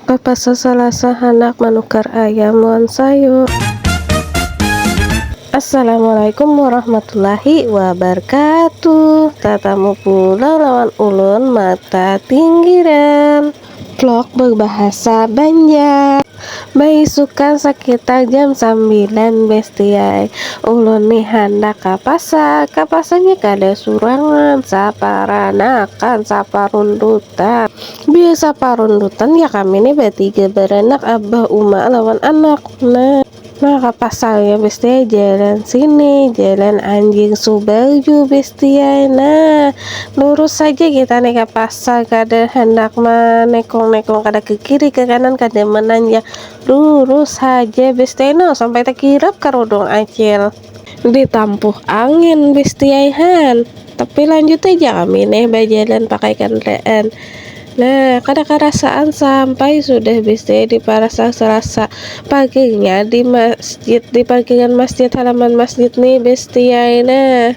Oh pas Salasa handak manukar ayam wan sayur. Assalamualaikum warahmatullahi wabarakatuh Tatamu pulang lawan ulun mata tinggiran Vlog berbahasa banjar Baisukan sakitar jam sambilan bestiai Ulun nih handak ka pasar Ka pasarnya kada surangan Saparanakan, saparuntutan Biasa parundutan ya kami nih batiga baranak abah uma lawan anak. Nah, maka pasalnya bestiai jalan sini, jalan anjing subarju bestiai. Nah, lurus saja kita nih ke pasar kada handak manekong-nekong kada ke kiri ke kanan kada menanjak. Lurus saja bestiai no sampai takirap karudung acil. Ditampuh angin bistiaihan, tapi lanjut aja kami neh bajalan pakai kandaraan. Nah, kada karasaan sampai sudah bistiai di Parasang Selasa paginya di masjid, di parkiran masjid, halaman masjid nih bistiai nah.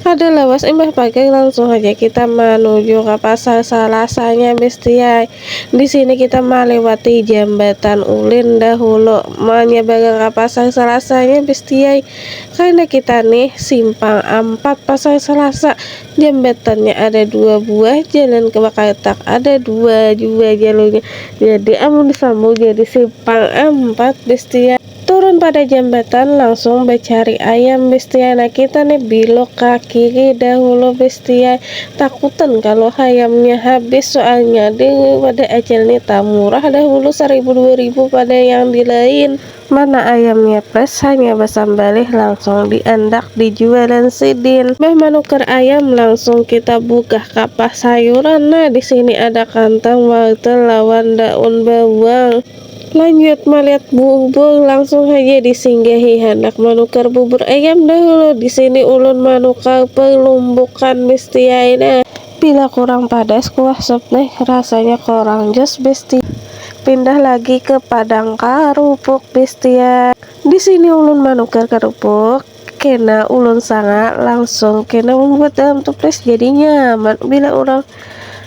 Kada lawas imbah pagang langsung haja kita manuju ka pasar salasanya bestiai. Di sini kita malewati jambatan ulin dahulu manyabarang ka pasar salasanya bestiai. Karena kita nih simpang ampat pasar salasa jambatannya ada dua buah jalan ke Bakartak ada dua jua jalurnya jadi amun disambung jadi simpang ampat bestiai. Turun pada jambatan langsung bacari ayam bestiai nah kita nih bilok ka kiri dahulu bestiai takutan kalu hayamnya habis soalnya di wadai acil nih tamurah dahulu saribu dua ribu pada yang di lain. Mana ayamnya pres hanya basambalih langsung di andak di jualan sidin. Bah manukar ayam langsung kita bukah ka pasayuran nah disini ada kantang wortel lawan daun bawang. Lanjut malihat bubur langsung haja disinggahi handak manukar bubur ayam dahulu disini ulun manukar perlumbukan bestiai nah. Bila kurang padas kuah sup nih rasanya kurang jos bestiai pindah lagi ke padang karupuk bestiai disini ulun manukar karupuk. kena ulun sanga langsung kena membuat dalam toples jadi nyaman bila orang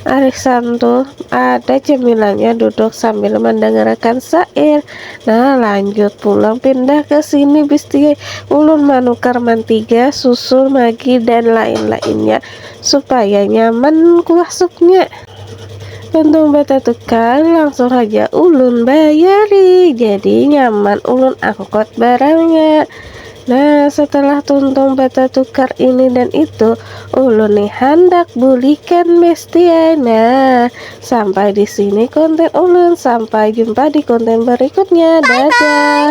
arisan tuh ada cemilannya duduk sambil mendengarkan syair nah lanjut pulang pindah ke sini bisti ulun manukar mantiga susu magi dan lain-lainnya supaya nyaman kuah supnya Untung batatukar langsung aja ulun bayari jadi nyaman ulun angkot barangnya Nah, setelah tuntung batatukar ini dan itu, ulun nih handak bulikan bestiai. Nah, sampai di sini konten ulun. Sampai jumpa di konten berikutnya. Dadah.